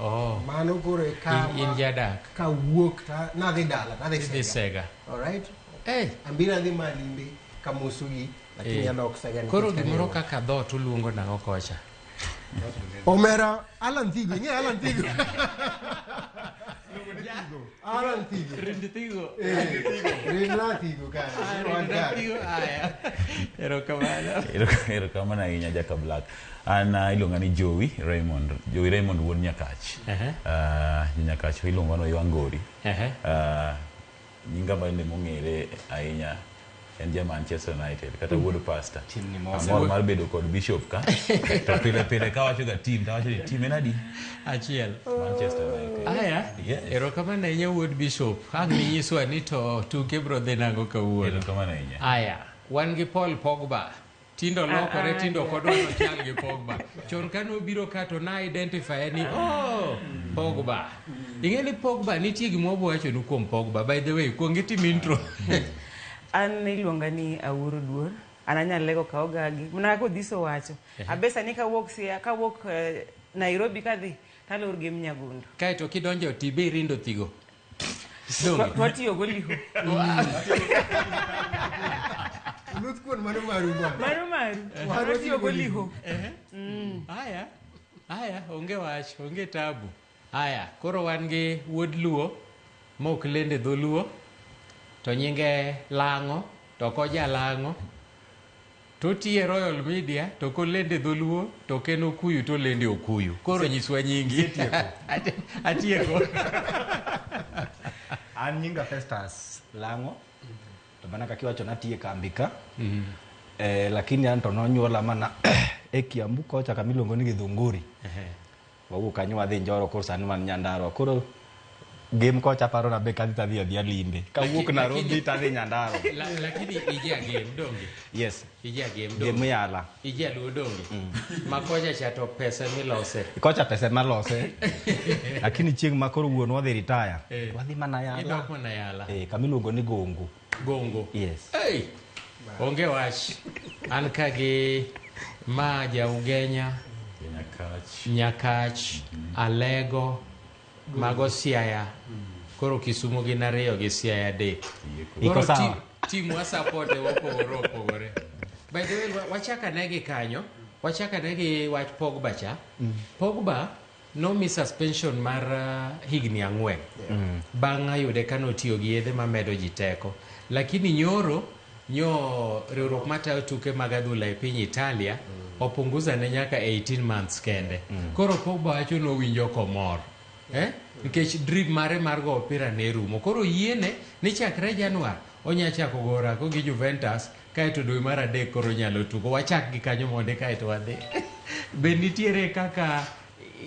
Oh. Mano koro e kama. In, in jadak. Ka wuok ta nadhi dala, nadhi sega. sega. All right? Hey. Eh. Ambira adhi malimbe kamosugi lakini hey. Eh. Alok sega. Koro gimoro kaka dhot uluongo nang'o kocha. Omera Alan Thigo, ng'e Alan Thigo. Ah, era antigo. Renditigo. Eh, Renatigo, cara. Ah, Não, Andar. renditigo. Ah, yeah. Era o cavalo. Ero- erokamano ahinya jaka black an ah, iluonga ni jowi raymond jowi raymond wuod nyakach Ehe. Ah, nyakach iluonga no ywangori Ehe. Ah, nyinga bende mong'ere ahinya en ja Manchester United kata mm. wuod pasta amor mar bedo kod bishop ka to pile pile ka wacho ga team ta wacho ni team en adi achiel Manchester United aya ero kama na inya wuod bishop ang ni nyiswa ni to tuke bro dhi nango kawuono ero kama na inya aya wan gi Paul Pogba Tindo lokore, ah, tindo kodwa to chal gi Pogba. Chon ka nobiro ka to na identify ni oh, Pogba. Ing'e ni Pogba nitie gima wawacho nu kuom Pogba. By the way, kuong itim intro. An iluonga ni Awuoro Duor. An anyal lego ka ogagi. Mana kaka Odhiso wacho. Abesa ni kawuok sia, kawuok eh, Nairobi kadhi, talor gi Mnyagundu. Kae to kidonjo tibi rindo thigo. Twa- twatiyogo liho Oluth kuon mano maru bwana. maru maru Maru twatiyogo liho haya haya onge wach onge tabu haya koro wan gi wuod luo ma ok lende dholuo to nyinge lang'o to koja lang'o Totii e Royal Media to kolendo e dholuo to ok en Okuyu to olendo e Okuyu. Koro nyiswa nyingi. Atieko. An nyinga Festus Lang'o to mana kaka iwacho natie kambi ka mm-hmm. eh, lakini an to nonyuola mana e Kiambu kocha kama iluongo ni Githunguri Wawuok kanyo wadhi Njoro koro sani wan Nyandarua. Koro game kocha paro na be kadhi tadhi adhi alimbe. Kawuok Laki- Nairobi lakini- tadhi Nyandarua. La, lakini ije agem donge Yes. ije agem Game donge yala. ije aduo donge makoja cha to pesa milose Kocha pesa ema lose. Lakini chieng' ma koro wuon wadhi retire. Eh. Wadhi mana yala. idok mana yala Eh, kamiluongo ni Gongo. Gongo. Yes. Hey! Onge wach. An ka gi ma ja Ugenya, Nyakach. Nyakach, Alego, mago Siaya. Koro Kisumo gin ariyo gi Siaya adek. Yeko. Iko Koro sawa. ti- timu wa support e wopogore opogore. By the way, wa- wachaka ne gi kanyo, wachaka ne gi wach Pogba cha. Pogba Nomi suspension mar uh, higni ang'wen bang' yude ka notiyo gi yedhe mamedo ji teko. Lakini nyoro nyo riwruok matayo tuke mag adhula e piny Italia opunguza ne nyaka 18 months kende. Koro Pogba wacho nowinjo komor. Eh? Nikech drip mare mar go opira ne rumo. Koro yiene ni chakre Januar onya chako go orako gi Juventus Kae to dwe mar adek koro inyalo tugo. Wachak gi kanyo mondi kae to wadhi. Be nitiere kaka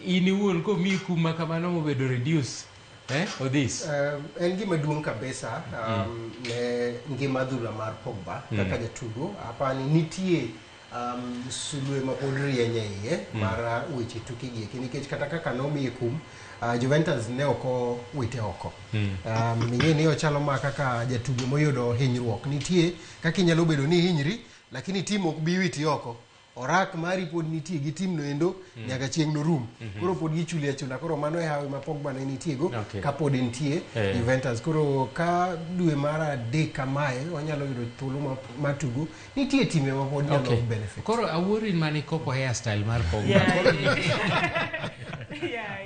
in iwuon komi kum ma kamano mobedo reduce? Eh, Odhis? Um, en gima duong' kabisa um, ne ngima adhula mar Pogba kaka jatugo apani nitie um, sulwe mapod rieny e iye mar uh, weche tukegi eki nikech kata kaka nomiye kum Uh, Juventus ne ok owite oko. Mm. Um, Ing'e ni ochalo ma kaka jatugo moyudo hinyruok. Nitie kaka inyalo bedo ni hinyri, lakini tim ok bi witi oko. Orak mari pod nitie gi tim no endo mm. nyaka chieng' no rum. Mm -hmm. Koro pod gichuli achula. Koro mano e hawi ma Pogba ne nitie go okay. ka pod nitie hey. Eh. Juventus. Koro ka dwe mar adek kamae wanyalo yudo thuolo matugo Nitie timbe ma pod nyalo okay. benefit. Koro awuori in mani koko hair style mar kongo. Yeah, yeah. yeah,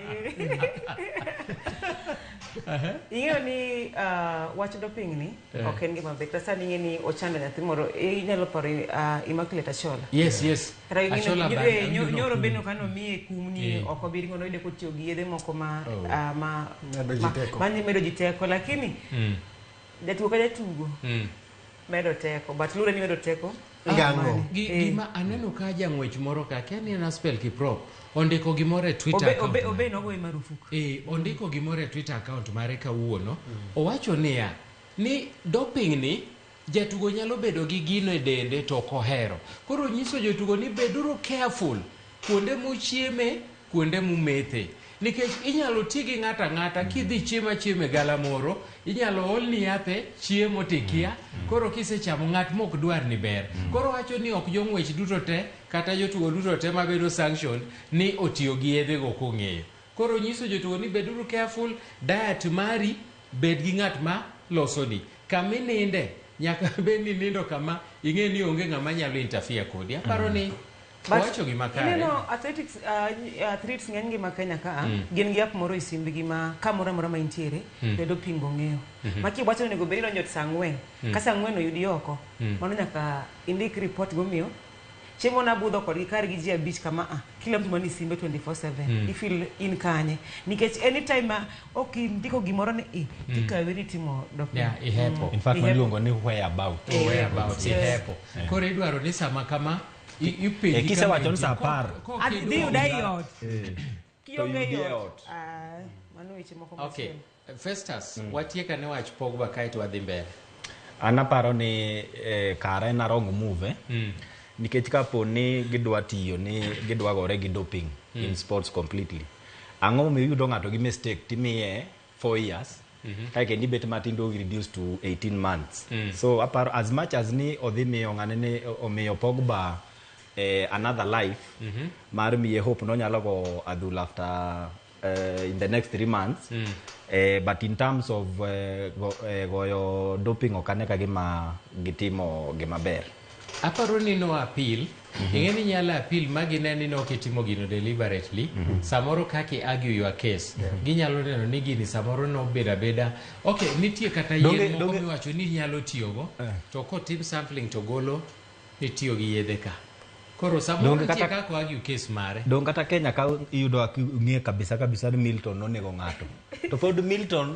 Ing'eyo ni uh, wach doping ni yeah. ok en gima ber. Sasa ning'e ni ochando nyathi moro inyalo paro uh, Immaculate Achola. Yes, yes. Achola ba. Eh, nyoro be no kano miye kum ni eh. ok obiri ngono ide kotiyo gi yedhe moko ma oh. uh, ma ma medo jiteko. Mani medo jiteko lakini mm. jatugo ka jatugo. Mm. medo teko but lure ni medo teko ngang'o Gi- Eh. gima aneno ka jang'wech moro ka kia ni en aspel kiprop ondiko gimoro e twitter obe account obe mare. obe nogoye marufuku Eh, ondiko gimoro e twitter account mare kawuono owacho niya ni doping ni jatugo nyalo bedo gi gino e dende to ok ohero koro nyiso jotugo ni beduru careful kuonde muchieme kuonde mumethe nikech inyalo ti gi ng'ato ang'ata kidhi chiemo achiema e galamoro inyalo olni yath e chiemo tikia mm. koro kisechamo ng'at mok dwar ni ber mm. koro wacho ni ok jong'wech duto te kata jotugo duto te mabedo sanctioned ni otiyo gi yedhe go kong'eyo koro nyiso jotugo ni beduru careful diet mari bed gi ng'at ma losoni kama ininde nyaka bed ni nindo kama ing'e ni onge ng'ama nyalo interfere kodi aparo mm. ni But Owacho gima kare. Ineno athletics uh, athletes ng'eny gi ma Kenya ka mm. gin gi app moro e simbgi ma kamoro amora ma intiere mm. to doping ong'eyo. Mm -hmm. Maki wacho onego bed idonjo saa ang'wen. Mm. Ka saa ang'wen oyudi oko, mm. mano nyaka indik report gomiyo chiemo na budho kodgi kar gi ji abich kama a ah, kila mtu mani simbe 24/7 mm. ifil in kanye nikech anytime ma ok indiko gimoro ni i mm. tikawe ni timo dokta yeah, ihepo mm. in fact waluongo ni where about oh, where about ihepo yeah. koro idwaro ni sama kama Eh, kisewacho ni saa apar Dhi yuda ei ot. Eh. Kionge ei ot. Ah, mano weche moko Okay. machielo. Festus, Mm. watieka ne wach Pogba kae to wadhi mbele. an aparo ni eh, kara en arong move Mm. nikech kapo ni gidwa tiyo ni gidwa gore gi doping Mm. in sports completely ang'o momiyo iyudo ng'ato gi mistake timiye four years kae kendo ibet matin to reduce to 18 months so aparo as much as ni odhi miyo ng'ane ni omiyo pogba eh, another life mar miye hope nonyalo go adhula after eh, in the next three months eh, but in terms of eh, go, eh, goyo doping ok ane ka gima gitimo gimaber Aparo ni no appeal. Ing'e ni inyalo appeal ma gine ni ne ok itimo gino deliberately. Samoro kaka i argue your case, ginyalo neno ni gini samoro nobedo abeda. Okay, nitie kata Donge- yien moko donge- miwacho ni inyalo tiyogo, to kotim sampling to golo ni itiyo gi yedhe ka. Koro samoro Donge nitie kata- kaka o argue case mare. Dong kata Kenya ka iyudo aki- ng'e kabisa kabisa ni Milton nonego ng'ato. To pod Milton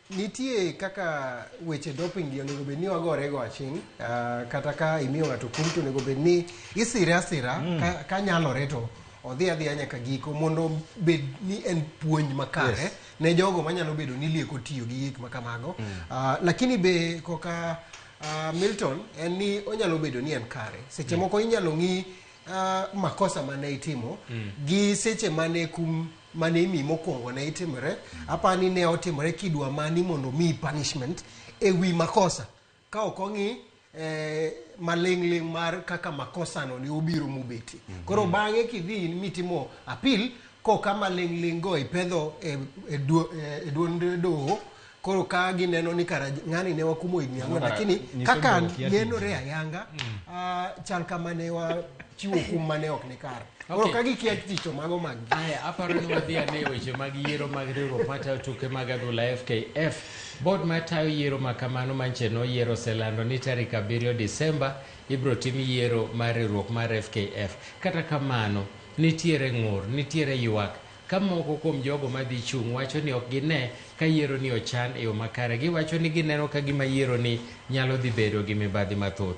Nitie kaka weche doping gi onego bed ni wagore go aching' ah, kata ka imiyo ng'ato kum to onego bed ni isire asira Mm. ka, ka nyalore to odhi adhiya nyaka giko mondo bed ni en puonj makare Yes. ne jogo manyalo bedo ni lieko tiyo gi gik ma kamago Mm. Ah, lakini be koka ah, Milton en ni onyalo bedo ni en kare seche Mm. moko inyalo ng'i ah, makosa mane itimo Mm. gi seche mane kum mane imi mokwongo ne itimore apa ni ne otimore kidwa mani mondo omiyi punishment e wi makosa ka ok ong'i eh, maling'ling' mar kaka makosano ne obiro mobeti koro bang'e kidhi mitimo apil koka maling'ling' go ipedho e, e, duo- e, e duond doho koro ka gineno ni kara ng'ani ne wakumo higni ang'wen kara lakini nyiso kaka dhok yadidi. nenore ayanga ah, chal kama ne wachiwo kum mane ok ni kare koro Okay. ka gikia ticho mago mag gi Aya, aparo ni wadhi ane e weche mag yiero mag riwruok matayo tuke mag adhula FKF. Bod matayo yiero ma kamano manche noyiero oselando ni tarik abiriyo Disemba ibiro tim yiero mar riwruok mar FKF. Kata kamano, nitiere ng'ur, nitiere ywak Ka moko kuom jogo ma dhi chung' wacho ni ok gine ka yieroni ochan e yo makare, giwacho ni gineno ka gima yieroni nyalo dhi bedo gi mibadhi mathoth.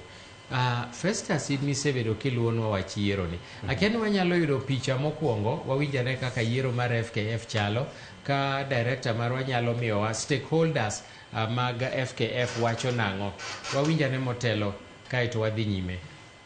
A Festus, in misebedo kiluwonwa wach yieroni, akia ni wanyalo yudo picha mokwongo wawinj ane kaka yiero mar FKF chalo, ka Director marwa nyalo miyowa stakeholders mag FKF wacho nang'o. Wawinj ane motelo kae to wadhi nyime.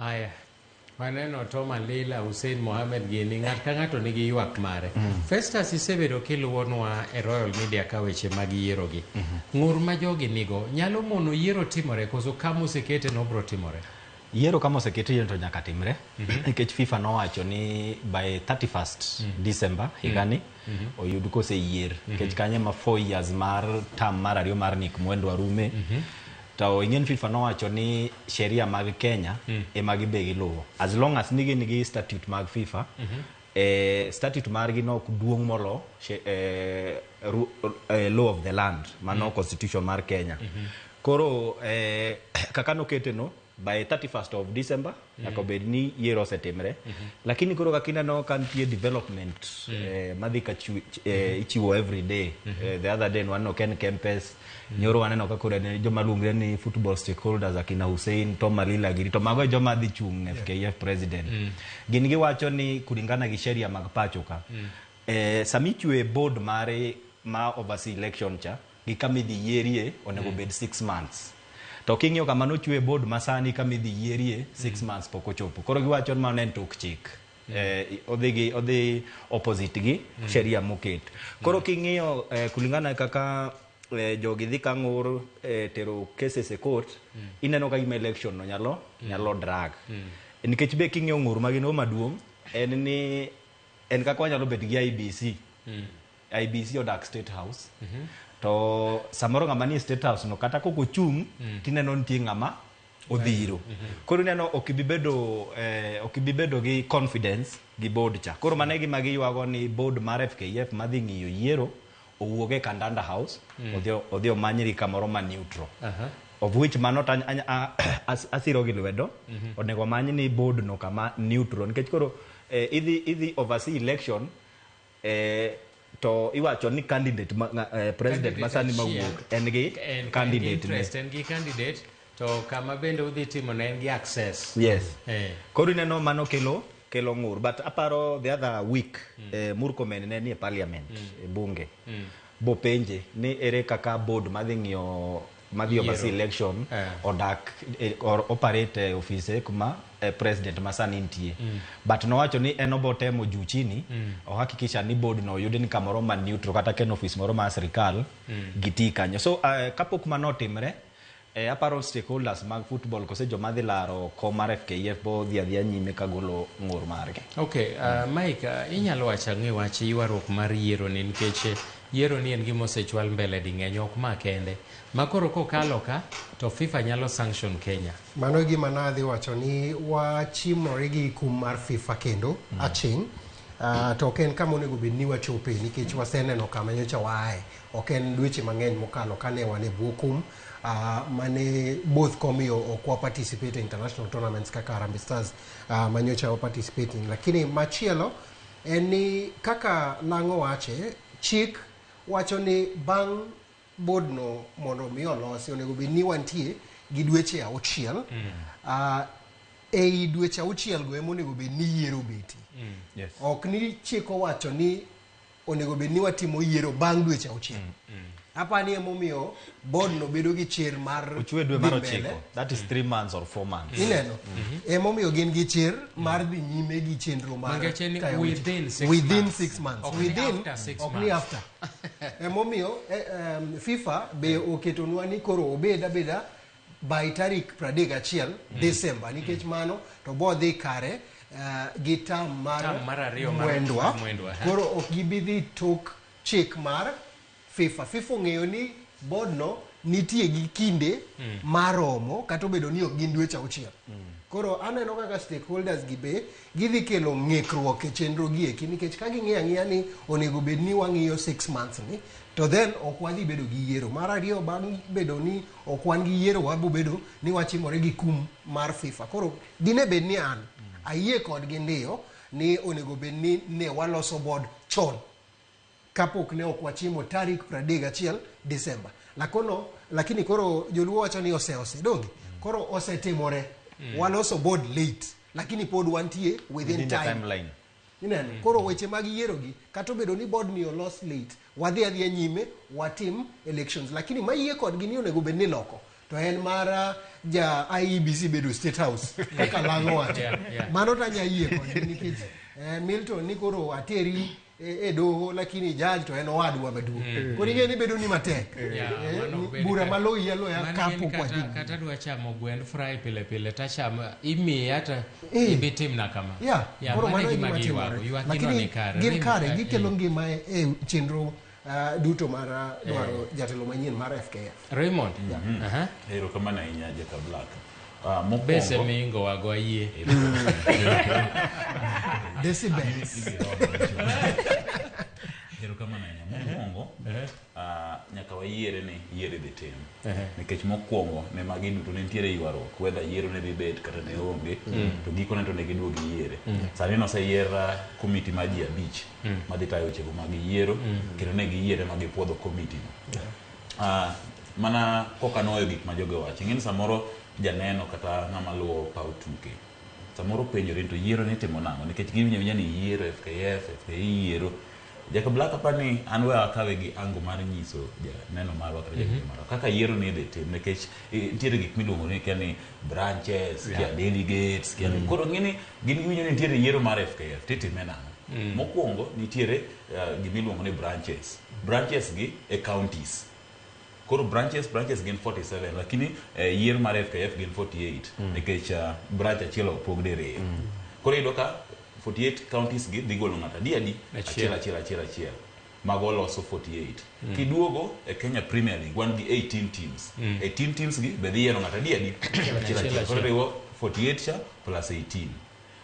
Aya. Maneno Tom Alila, Hussein Mohamed gini, ng'at ka ng'ato nigi ywak mare. Mm. Festus isebedo kiluwonwa e Royal Media ka weche mag yierogi. Mm -hmm. Ng'ur ma jogi nigo nyalo mono yiero timore koso kama osekete nobro timore? Yiero kama osekete yiero to nyaka timre mm -hmm. nikech FIFA nowacho ni by 31st mm -hmm. December mhm. higani mm -hmm mm -hmm. oyud koseyier mm -hmm. kech kanye ma 4 years mar tam mar ariyo mar nik mwendo arume mm -hmm. To ing'eni FIFA nowacho ni sheria mag Kenya mm. ema gibe giluwo. As long as nigi nigi statute mag FIFA, mm -hmm. eh, statute margi nok duong' molo she, eh, ru, eh, law of the land, mano mm. constitution mar Kenya. Mm -hmm. Koro eh, kaka nokete no, by 31st of December nyaka bed ni yiero osetimre lakini koro kaka ineno ka nitie development eh, madhi ka chiw- ch- eh, ichiwo every day Eh, the other day waneno ken kempes nyoro waneno ka koro ne joma luongre ni football stakeholders akina hussein tom malila giri to mago e joma dhi chung' ne fkf president gin giwacho ni kulingana gi sheria mag pacho ka eh, sami chwe board mare ma oversee election cha gi kama idhi yierie onego mm. bed six months to king'iyo kama nochwe board masani kama idhi yierie six mm. months pok ochopo koro giwacho ni mano en tok chik mm. eh, odhi gi odhi opposite gi mm. sheria moket koro mm. king'iyo eh, kulingana kaka eh, jogi dhi kang'ur eh, tero cases e court mm. ineno ka gima election no nyalo mm. nyalo drag mm. nikech be king'iyo ng'ur magin go maduong' en ni en kaka wanyalo bet gi IBC mm. IBC odak State House. To samoro ng'ama ni e State House no kata kok ochung' tineno nitie ng'ama odhiro. Koro ineno ok ibi bedo eh, ok ibi bedo gi confidence gi board cha. Koro mano e gima giywago ni board mar FKF madhi ng'iyo yiero owuog e Kandanda House odhi odhi omanyri kamoro ma neutral. Of which mano to any- any- a- as- asiro gi lwedo onego omany ni board no kama neutral nikech koro eh, idhi idhi oversee election eh, to iwacho ni candidate ma, nga- eh, president ma sani Candidate mawuok achiel. en gi En candidate ne. interest, en gi candidate to kama bende udhi timo ne en gi access yes eh. koro ineno mano kelo kelo ng'ur but aparo the other week eh, murkomen ne nie parliament e bunge bopenje ni ere kaka board madhi ng'iyo madhi oversee Yiero. election Eh. odak eh, or operate e ofise kuma eh, president ma sani nitie but nowacho ni en obo temo juu chini ohakikisha ni board no oyud ni kamoro ma neutral kata ka en ofis moro ma sirikal gitii kanyo so eh, kapok mano otimre eh, aparo stakeholders mag football kose joma dhi laro kom mar fkf bo dhi adhiya nyime ka golo ng'ur margi Okay, uh, Mike, uh, inyalo wacho ang'e wach ywaruok mar yiero ni nikech Yiero ni en gima osechwal mbele dingeny ok ma kende. Ma koro kokalo ka to FIFA nyalo sanction Kenya. Mano e gima nadhi wacho ni wachimore gi kum mar FIFA kendo mm. aching' Uh, to ok en kama onego bed ni wachope nikech waseneno kama nyocha waaye ok en dweche mang'eny mokalo kane wan e bwo kum uh, mane both komiyo ok wa participate e international tournaments kaka Harambee Stars uh, manyocha wa participate lakini machielo en ni kaka lang' owache, chik wacho ni bang' bodno mondo mi olosi onego bed ni wantie gi dweche auchiel. Ah, ei dweche auchiel go ema onego bed ni yiero obeti. Yes. Ok ni chik owacho ni onego bed ni watimo yiero bang' dweche auchiel. Apani emomiyo board no bedo gi chir mar ochwe dwe mar ochiko that is three months or four months ineno mhm. emomiyo gin gi chir mar dhi nyime gi chenro mar within six within months. six months okay. within ok ni after emomiyo eh, um, fifa be mm. oketonwa ni koro obed abeda by tarik pradek achiel mm. december nikech mm. mano to bodhi kare uh, gi tam mar mwendwa koro ok gibi dhi tok chik mar FIFA. FIFA ong'eyo ni bodno nitie gi kinde mm. maromo kata obedo ni ok gin dweche auchiel. Mm. Koro aneno kaka stakeholders gi be gidhi kelo ng'ikruok e chenro gi eki nikech ka ging'eyo ang'eya ni onego bed ni wang'iyo six months ni to then ok wadhi bedo gi yiero. Mar ariyo bang' bedo ni ok wan gi yiero wabo bedo ni wachimore gi kum mar FIFA. Koro dine bed ni an mm. ayie kodgi ndiyo ni onego bed ni ne waloso board chon. kapok ne ok wachimo tarik 31 Disemba. Lakono, lakini koro joluo wacho ni ose ose donge koro osetimore mm. waloso board late lakini pod wantie within, within time. timeline ineno mm. koro weche mag yiero gi kata obedo ni board ni olos late wadhi adhiya nyime watim elections lakini mayie kodgi ni onego bed ni loko to en mara ja IEBC bedo state house kaka lango wacho yeah, yeah. mano tanya yie kodgi nikech eh, Milton ni koro ateri e, e doho lakini jaji to en owadwa maduong mm. koro ing'e ni bedo ni matek eh, yeah, eh, bura maloyi aloya kapo kwaji kata dwa chamo gwend fry pile pile tachamo imiye hata eh. ibi timna kama yeah, yeah, koro mano gima giwago lakini gin kare gikelo ngima e, e chenro uh, duto mar uh, dwaro jatelo manyien mar fkf raymond mm-hmm. erokamano ahinya jaka black Ah, mokwongo- Bese miingowago ayie. Decibels. erokamano ahinya mokwongo ah, nyaka wayiere ni yiero idhi tim Ehe. nikech mokwongo ne magi duto ne nitiere ywaruok wedha yiero ne dhi bet kata ne onge Mm. to gikone to ne giduog yiere Mm. sani noseyier ah, komiti mar ji abich Mm. madhi tayo wechego mag yiero Mm. kendo ne giyiere ma gipwodho komitino ah, mana koka noyo gik ma joge wacho ing'eni samoro janeno kata ng'ama luwo paw tuke samoro penjore to yiero ni timo nang'o nikech giwinjo awinja ni yiero fkf fki yiero jacob black apa ni an we akawe gi ango mar nyiso janeno marwa kata janeno marwa kaka yiero ni idhi tim nikech eh, nitiere gik miluongo ni kia ni branches kia Yeah. delegates kia ni koro ng'eni gin giwinjo ni nitiere yiero mar fkf titime nang'o mokwongo nitiere eh, gimiluongo ni branches branches gi e counties koro branches branches gin 47 lakini eh, yier mar fkf gin 48 mm. nikech uh, branch achiel opog diriyo mm. koro iyudo ka 48 counties gi dhi golo ng'ato adi adi achiel achiel achiel achiel mago loso 48 mm. kiduogo e kenya premier league wan gi 18 teams mm. 18 teams gi be dhi yiero ng'ato adi adi achiel achiel koro riwo 48 cha plus 18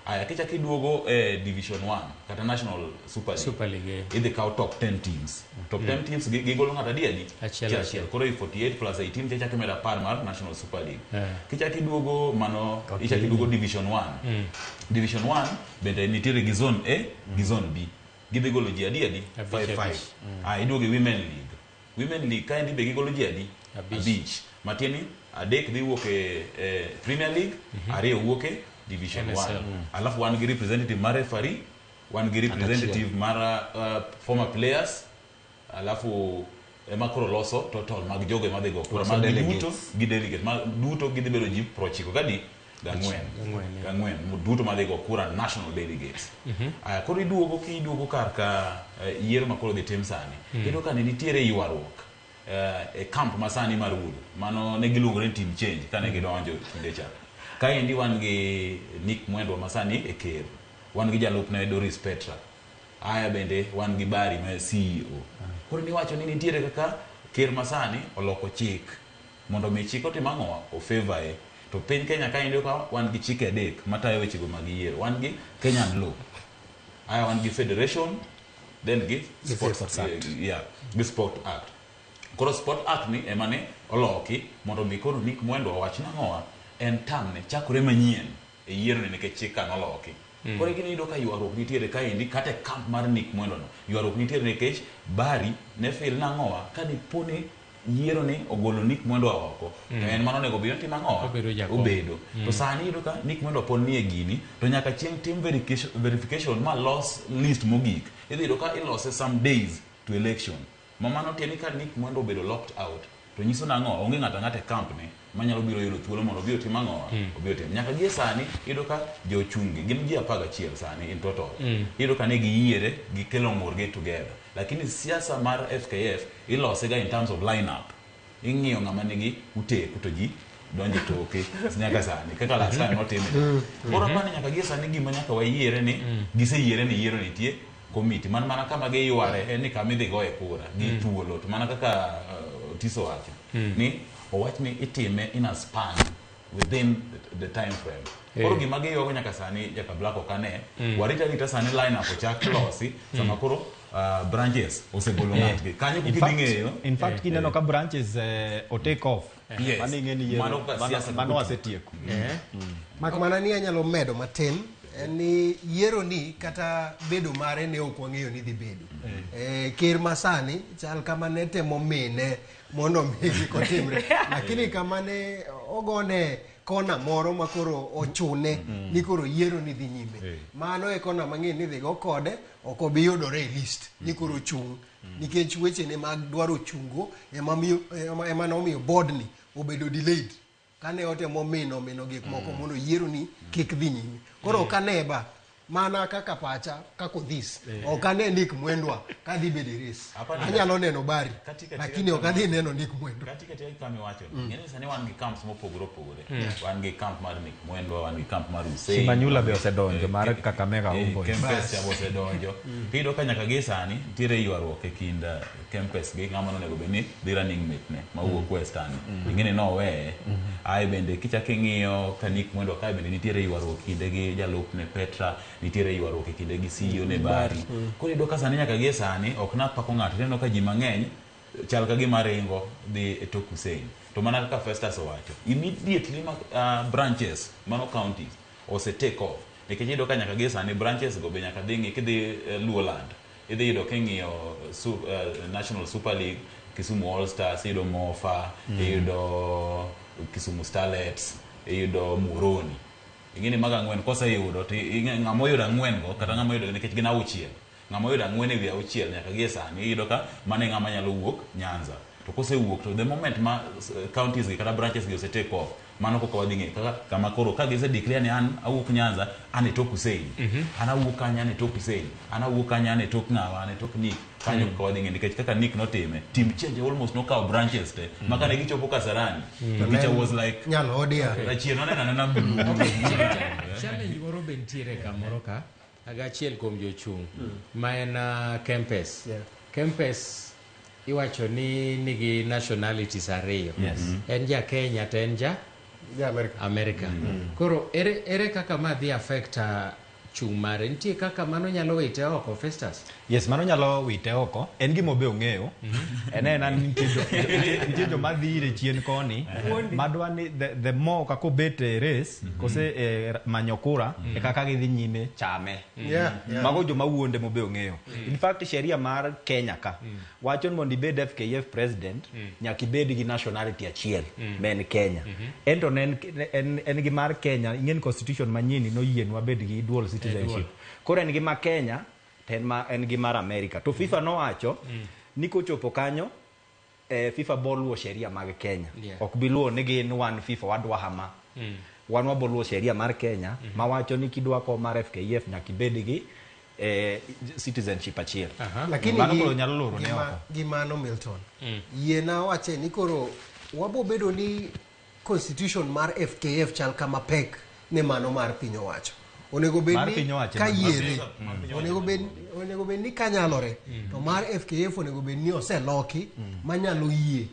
Aya kichak iduogo e Division 1 kata National Super League. Super League, eh. Idhi kaw top 10 teams. Top 10 teams gi- gigolo ng'ato adi adi? Achiel, Chi achiel. Koro i 48 plus 18 kichak imedo apar mar National Super League. Eh. Kichak iduogo mano ichak iduogo Division 1. Division 1 bende nitiere gi zone A gi zone B. Gidhi golo ji adi adi? Abich, 5 5. abich. Ah iduogo e Women League. Women League kaendi be gigolo ji adi? Abich. Matieni adek dhi wuok e, e Premier League, mhm. ariyo wuok e Division 1. Mm. Alafu wan gi representative mar referee, wan gi representative mar uh, former players, alafu ema koro loso total mag jogo ema dhi go kura mag duto gi delegate ma duto gidhi bedo ji prochiko kadi gang'wen Gang'wen, eh. gang'wen mo- duto madhi go kura national delegates Aya, koro iduogo ki iduogo kar ka eh, yiero ma koro dhi tim sani iyudo ka ne nitiere ywaruok eh, e camp ma sani mar Wood mano ne giluongore ni team change kane gidonjo kinde cha kaendi wan gi Nick Mwendwa ma sani e ker wan gi jalupne Doris Petra aya bende wan gi Bari ma CEO koro niwacho ni nitiere kaka ker ma sani oloko chik Mondo omi chik otim ang'o? O favour e. To piny Kenya kaendi iyudo ka wan gi chike adek matayo weche go mag yiero. Wan gi Kenyan law. Aya wan gi Federation, then gi Sports Act. Yeah, gi Sport Act. Koro Sport Act ni ema ne oloki mondo omi koro Nick Mwendwa owach nang'owa en term ne chakore manyien. e yieroni nikech chik ka noloki. Koro egini iyudo ka ywaruok nitiere kaendi kata e camp mar Nick Mwendo no. Ywaruok nitiere nikech Barry ne feel nang'owa kadiponi yieroni ogolo Nick Mwendo a oko to en mano onego bed ni otimo ang'owa? Obedo jakom. Obedo. To sani iyudo ka Nick Mwendo pod nie gini to nyaka chieng' tim verification ma los list mogik. Idhi yudo ka ilose some days to election. Ma mano tiende ni ka Nick Mwendwa obedo locked out to nyiso nang'o? Onge ng'ato ang'ata e camp ne manyalo biro yudo thuolo mondo obi otim ang'o? Obi otim. Nyaka gie sani iyudo ka jo chung' gi gin ji apar gachiel sani in total. Iyudo ka ne giyiere gi kelo ng'ur gi together. Lakini siasa mar FKF ilose ga in terms of line up. ing'iyo ng'ama nigi uteku to ji donje toke nyaka sani kaka last time notime mm. koro mm-hmm. apani nyaka gie sani gima nyaka wayiere ni mm. giseyiere ni yiero nitie komiti man mana kama giyware en ni kama idhi goye kura gi mm. thuolo to mana kaka uh, tiso wacho ni owach ni itime in a span within the, the time frame Eh. koro gima giyogo nyaka sani jaka black ok ane warit arita sani line up ochak losi sama koro uh, branches osegolo ng'atgi kanyo In kuki fact- ding'eyo in fact kineno ka branches eh, o take off Yes. mano ing'e ni Mano yiero- ka mano- siasa mano kukuti. asetieko Eh. mak mana ni anyalo medo matin en ni yiero ni kata bedo mare ne ok wang'eyo ni dhi bedo Eh, ker masani chal kama ne temo mine mondo mi kik otimre lakini kama ne ogone kona moro ma koro ochune mm. ni koro yiero ni dhi nyime hey. mano e kona mang'eny ni dhigo kode ok obi yudore e list mm. ni koro chung' mm. nikech wechene mag dwaro chungo ema nomiyo bodni obedo delayed Kane otemo mino mino gik moko mm. mondo yieroni kik dhi nyime. Koro mm. kane ba mana kaka pacha kaka odhis eh. ok ane nik mwendwa kadhi bedo e res anyalo neno bari lakini ok adhi neno nik mwendwa mm. sani wan gi camps mopogore opogore mm. wan gi camp mar nik mwendwa wan gi camp mar useimanyula be osedonjo mar eh, kakamega eh, osedonjo mm. tiyudo ka nyaka gi sani nitiere ywaruok e kind Kempes gi ng'ama nonego bed ni dhi running mate ne ma wuok Western. Ing'e ni noweye. Ae bende kichak ing'iyo ka Nick Mwendwa kae bende nitiere ywaruok kinde gi jalupne Petra, nitiere ywaruok e kinde gi CEO ne Barry. Koro iyudo ka sani nyaka gie sani ok napako ng'ato tineno ka ji mang'eny chal ka gima ringo dhi e tok Hussein. To mana kaka Festus owacho, immediately ma ah, branches mano counties ose take off nikech iyudo ka nyaka gie sani branches go be nyaka dhi ng'i kidhi eh, Luoland Idhi yudo king'iyo su, uh, National Super League, Kisumu All Stars, iyudo Mofa, mm. iyudo Kisumu Starlets, iyudo Muhoroni. Ing'eni mago ang'wen koseyudo to ng'ama oyudo ang'wen go kata ng'ama oyudo nikech gin auchiel. Ng'ama oyudo ang'wen ewi auchiel nyaka gie sani iyudo ka mane ng'ama nyalo wuok Nyanza. To kosewuok to the moment ma eh, counties gi kata branches gi osetake off mano koko wadhi ng'eyo kaka kama koro ka gise declare ni an awuok Nyanza an e tok Hussein mhm. an awuok kanye an e tok Hussein an awuok kanye an e tok ng'awa an e tok Nick kanyo mhm. kaka wadhi ng'eyo nikech kaka Nick notime team change almost nokawo branches te mhm. maka ne gichopo Kasarani the picture was like nyalo odia rachier nonena nena blue challenge moro be nitiere kamoro ka Aga achiel kuom jochung' ma en ah, Kempes. Kempes iwacho ni nigi nationalities ariyo. Yes. En ja Kenya to en ja Ja Amerika. America. Koro ere, ere kaka ma dhi affect ah, chung' mare? Nitie kaka mano nyalo wite oko Festus? Yes, mano nyalo wite oko. En gimo be ong'eyo. En en an nitie jo nitie jo ma dhire chien koni. Madwa ni the, the more kaka obet e race kose e manyo kura e kaka gidhi nyime chame. Yeah, yeah. Mago joma wuonde mo be ong'eyo. In fact sheria mar Kenya ka wacho ni mondo ibed FKF president nyaka ibed gi nationality achiel ma en Kenya. En to ne en en en gi mar Kenya ing'e ni constitution manyien no yienwa bed gi dual citizenship. Koro en gi ma Kenya to en ma en gi mar America to FIFA nowacho ni kochopo kanyo eh, FIFA boluwo sheria mag Kenya Yeah. ok biluwo ni gin wan FIFA wadwa hama wan waboluwo sheria mar Kenya ma wacho ni kidwa ko mar FKF nyaka ibed gi eh, citizenship achiel lakini mano gi- koro nyalo loro ne gima- oko gi mano milton yiena wache ni koro wabobedo ni Constitution mar FKF chal kama pek ne mano mar piny owacho. Onego bed Mar ni piny owacho ka ema yiere, pek. Mm. onego bed onego bed ni kanyalore, Mm. to mar FKF onego bed ni oseloki manyalo yie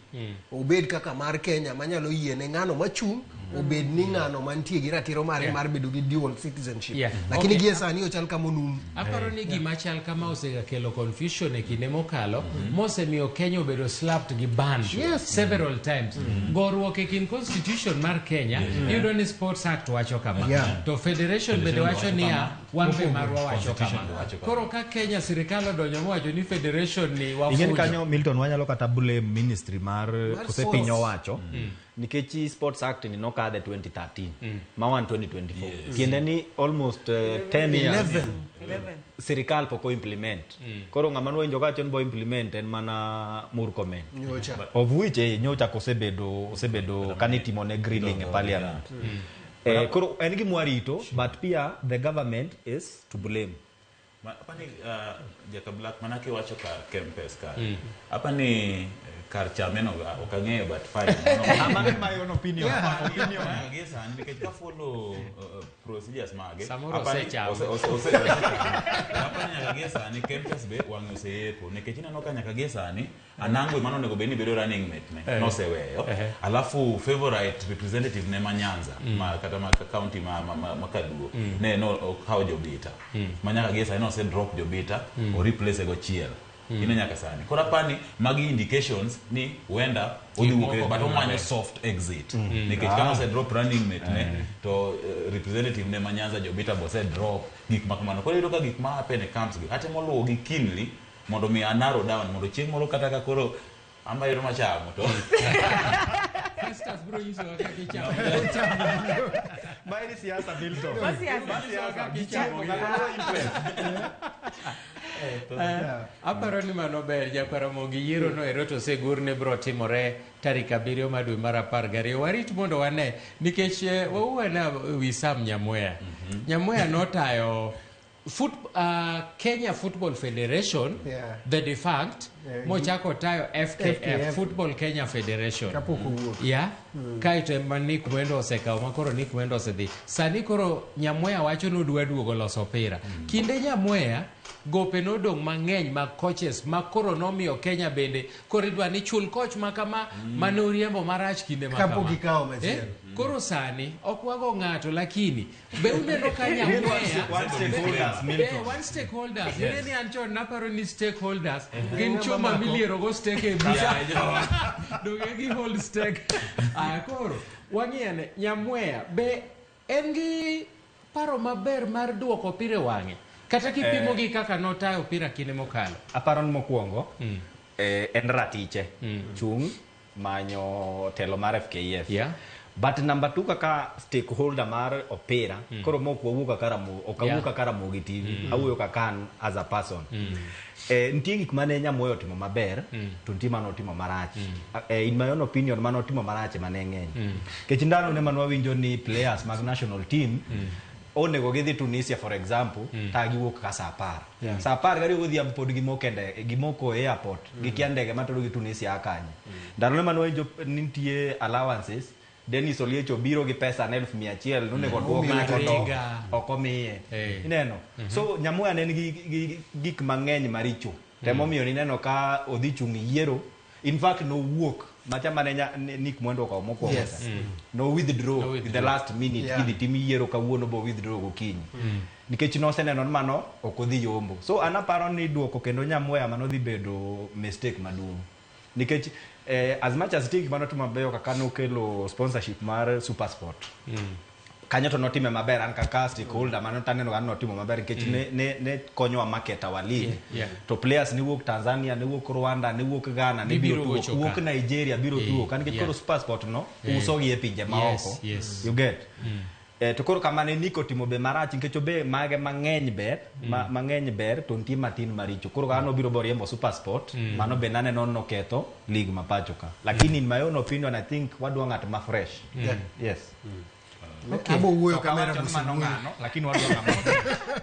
obed kaka mar Kenya manyalo yie ne ng'ano machung' obed ni ng'ano mantie gi ratiro mare Yeah. mar bedo gi dual citizenship. Yeah. Lakini Okay. gie sani ochal kama onum. Aparo ni gima chal kama osegakelo confusion e kinde mokalo mhm. mosemiyo Kenya obedo slapped gi ban yes. several times mm -hmm. goruok e kind constitution mar Kenya yeah. iyudo ni Sports Act wacho kama yeah. to federation bende wacho niya wan be marwa wacho kama koro ka Kenya sirikal odonjo mowacho ni federation ni wafujo kanyo Milton wanyalo kata blame ministry mar kose piny owacho mm. nikech chi sports act ni nokadhe 2013 mm. ma wan 2024 yes. tiende ni almost uh, 10 years 11. 11. sirikal pok oimplement mm. koro ng'ama nwenjo kacho ni bo implement en mana murkomen nyocha of which eh, nyocha kosebedo osebedo kanitimo ne grilling e parliament mm. eh, koro en gi mwarito but pia the government is to blame Ma- apani ah, jaka black mana kiwacho kar kempes kar apani eh, kar chameno ah, ok ang'eyo but fine Mano en my own opinion. Opinion. Mage sani nikech ka follow uh, procedures mage Samoro apani- osechamo. ose- ose- ose- apani nyaka gie sani kempes be wang'e oseyepo nikech ineno ka nyaka gie sani Anango emane onego bed ni bedo running mate ne Eh. noseweyo Ehe. alafu favorite representative ne ma Nyanza ma kata ma county ma, ma, ma, ma Kaduo ne no okawo Jobita ma nyaka gie sani nose drop Jobita o replace go chiel ine nyaka sani koro apani magi indications ni huenda odhi Gik wuok e- moko but biro omanyo maber. soft exit nikech kama ose drop running mate ne to eh, representative ne ma Nyanza Jobita bose drop gik ma kamano koro iyudo ka gik ma happen e camps gi atemo luwo gi keenly mondo mi anaro down mondo chieng' moro kata ka koro amayero machamo to Festus bro nyiso kaka ichamo. Mae ni siasa Milton. Ma siasa. Ma siasa. Gichamo gi low interest. Eh, aparo ni mano ber jakaramogi yiero no ero to segur ni bro timore tarik abiriyo ma dwe mar apar gariyo warit mondo wane nikech eh, wauwe na wi sam nyamweya nyamweya notayo Foot, uh, Kenya Football Federation Yeah. the defunct Yeah, mochako tayo FKF, FKF. Football Kenya Federation Kapok owuok. ya kaeto ema Nick Mwendo osekawo ma koro Nick Mwendo osedhi sani koro Nyamweya wacho ni odwa duogo loso opira kinde Nyamweya gope nodong' mang'eny mag coaches ma koro nomiyo Kenya bende koro idwa ni chul coach ma kama mane oriembo marach kinde ma Kapok kama. ikawo machielo. Eh? koro sani ok wago ng'ato lakini Be uneno ka nyang'weya One stakeholders, Eh, Milton. one stakeholders. Yes. Yes. an chon naparo ni stakeholders gin chuma milierogo stake e bucha. Donge gi hold stake. Aya koro wang'iyane nyamweya be en gi paro maber mar duoko opira e wang'e kata kipimo Eh. gi kaka notayo opira kinde mokalo. aparo ni mokwongo eh, en ratiche chung' manyo telo mar FKF. Yeah. But number two kaka stakeholder mar opira mm. koro mok wawuo kaka Ramogi ok awuo yeah. kaka Ramogi TV mm. awuoyo kaka an as a person mm. eh, nitie gik mane Nyamoyo otimo maber mm. to nitie mane otimo marach mm. eh, in my own opinion mane otimo marach mane ng'eny mm. kech ndalo ne mane wawinjo ni players mag national team mm. onego gidhi tunisia for example mm. ka giwuok ka sa apar yeah. sa apar gariyo godhiambo pod gimoko e ndege gimoko e airport mm. gikia ndege matero gi tunisia akanye mm. ndalone mane wainjo nitie allowances denis oliech obiro gi pesa na elfu mia achiel nonego mm. duok ng'ato ok omiye hey. ineno mm -hmm. so nyamuya ne en gi gik mang'eny maricho Temo miyo ni neno ka odhi chung' e yiero. In fact nowuok macha mane nya- ne- Nick Mwendo okawo mokwongo Yes. cha. No withdraw No in the withdraw. last minute Yeah. kidhi tim yiero kawuono bo withdraw gokinyi. Nikech noseneno ni mano ok odhi yombo. So an aparo ni duoko kendo Nyamweya mano dhi bedo mistake maduong'. nikech eh, as much as tigi mano timo mabeyo kaka nokelo sponsorship mar supersport kanyo to notime maber an kaka stakeholder mano taneno ka notimo maber nikech ne, ne, ne konyowa market our league yeah. to players ne wuok tanzania ne wuok rwanda ne wuok ghana ne Gibiro biro tugo ochoka. wuok nigeria biro Yeah, tugo ka nikech yeah. koro supersport no Yeah. usogi e pinje maoko Yes, yes. you get Eh, to koro kamane ni kotimo be marach nikech obe mage mang'eny ber ma, mang'eny ber to nitie matin maricho koro kaka nobiro boriembo super sport mano be naneno ni noketho lig ma pacho ka lakini in my own opinion i think wadwa ng'at ma fresh Yeah. yes Abo wuoyo Ok kamera awacho ni mano mosewuoyo. ng'ano, lakini wadwa ng'ama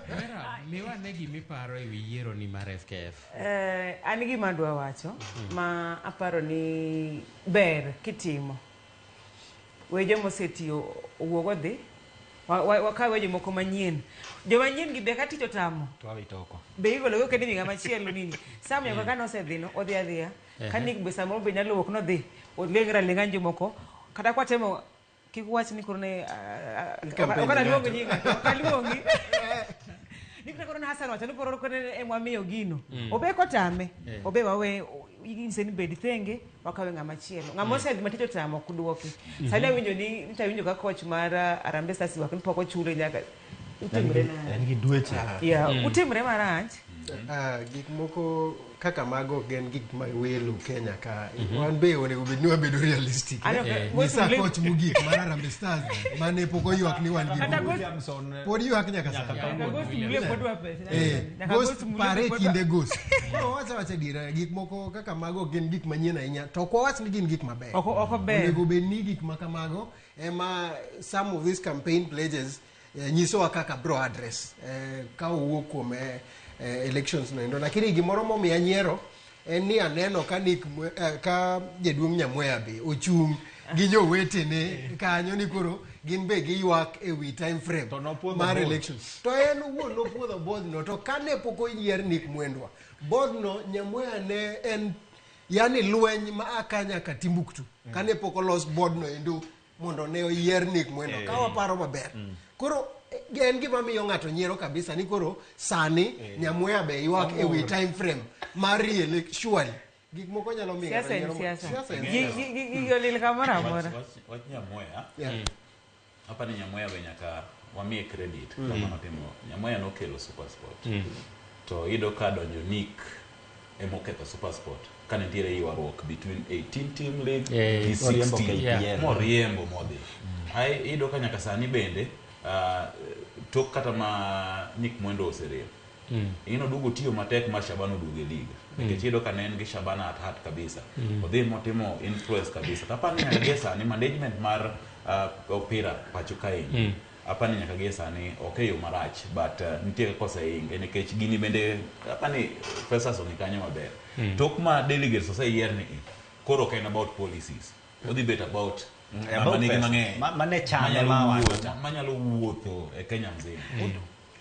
Vera, miwa ne gimiparo e wi yiero ni mar FKF. Eh, an gima adwa wacho ma aparo ni ber kitimo we joma oseti o- owuog odhi Wa- wa- wakaw we jomoko manyien joma nyien gi be ka tich otamo to awito oko be igologo kendo imiga machielo nini sam nyaka ka nosedhino odhi adhiya ka Ehe. nik be samoro be nyalo wuok nodhi olengre alenga ni jomoko kata kwatemo kik wach ni koro ne ah, ah, Campaign ok analuongi ng'ato. nyinga ok aluongi ni kata koro ne Hassan wacho ni koro koro ne emwamiyo gino Mm. obe kotame Eh. obe wawe inse ni bed thenge wakawe ng'ama chielo ng'ama mm. osegima tich otamo ok dwoki mm-hmm. sani awinjo ni nita awinjo ka koch mar uh, arambe stars wak ni pok ochule nyaka utimre ngi dweche ya mm. utimre marach mm-hmm. ah, gik moko kaka mago gen gik ma welo kenya ka mm-hmm. wan be onego bed ni wabedo realistic nyisa koch mogik mar arambe stars mane pok oywak ni wan gi pod ywak nyaka sani Eh, Nyaka ghost ghost mule pare e kod- kinde ghost no wacha wacha dira gik moko kaka mago gin gik manyien ahinya to ok wawach ni gin gik maber Ok- ok ober. onego bed ni gik ma kamago ema some of these campaign pledges eh, nyisowa kaka bro address eh, ka owuok kuom eh, eh, elections noendo lakini gimoro momiya nyiero en ni aneno ka nik eh, ka jaduong' nyamweya be ochung' gi jowetene kanyo ni koro gin be giywak e wi time frame To nopwodho mar both. election to en owuon nopwodho bodhno to kane pok oyier nik mwendwa bodhno nyamweya ne en yani lweny ma akanya ka timbuktu kane pok olos bodno endo mondo ne oyier Nick Mwendo ka waparo maber mm. koro eh, en gima miyo ng'ato nyiero kabisa ni koro sani eh. Nyamweya be ywak e wi time frame mar re-elect surely gik moko nyalo miyo siasa en siasa gigi olil kamoro amora wach Nyamweya mm. apa ni Nyamweya be nyaka wamiye credit mm. kama notimo Nyamweya nokelo super sport to iyudo ka donjo Nick ema oketho Supersport ka nitiere ywaruok between 18 team league Eh, gi moriembo 16 KPL. Yeah. moriembo modhi ai iyudo ka nyaka sani bende ah, tok kata ma Nick Mwendo oserem Mm. ing'e noduogo tiyo matek ma Shaban oduogo e lig nikech iyudo ka ne en gi Shaban at heart kabisa odhi motimo influence kabisa kapani gie sani management mar ah, opira pacho kaendi apani nyaka gie sani ok e yo marach but uh, nitie kaka osehinge nikech gini bende apani fesas ong'e kanyo maber mm. tok ma delegates oseyier ni koro ok en about policies odhi bet about mm. manyalo wuotho e kenya mzima mm.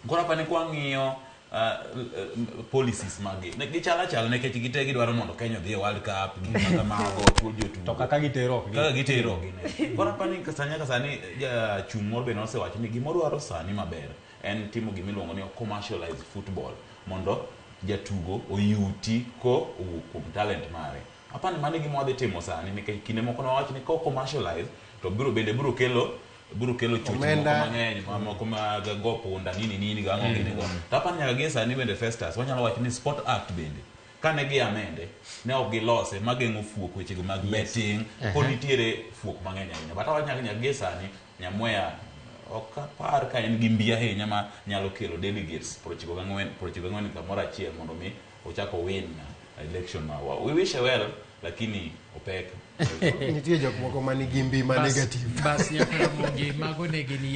Koro apa ni kwang'iyo uh, policies magi ne gichal achal nikech gite gidwaro mondo Kenya odhi e World Cup gi kaka mago to jotugo kaka gitero ok kaka gitero ok gine koro apa ni kasanya kasani jachung' moro bende osewacho ni gima odwaro sani maber en timo gima iluongo ni commercialize football mondo jatugo oyuti ko owuok kuom talent mare apa ni mano e gima wadhi timo sani nikech kinde moko ne wawach ni ko commercialize to biro bende biro kelo biro kelo choche moko Omenda. mang'eny ma- moko mag go punda nini nini go ang'o gini go to apani nyaka gie sani bende festus wanyalo wacho ni sport act bende kane gi amende ne ok gilose mageng'o fuok wechego mag betting pod nitiere fuok mang'eny ahinya but awacho nyaka nyaka gie sani nyamweya ok apar ka en gi mbi ahinya ma nyalo kelo delegates prochiko gang'wen prochiko gang'wen kamoro achiel mondo mi Ochak owin election marwa. We wish her well lakini opek. Nitie jok moko manigi mbi ma Bas- negative. Bas nyaka Ramogi, mago ne gin yiero.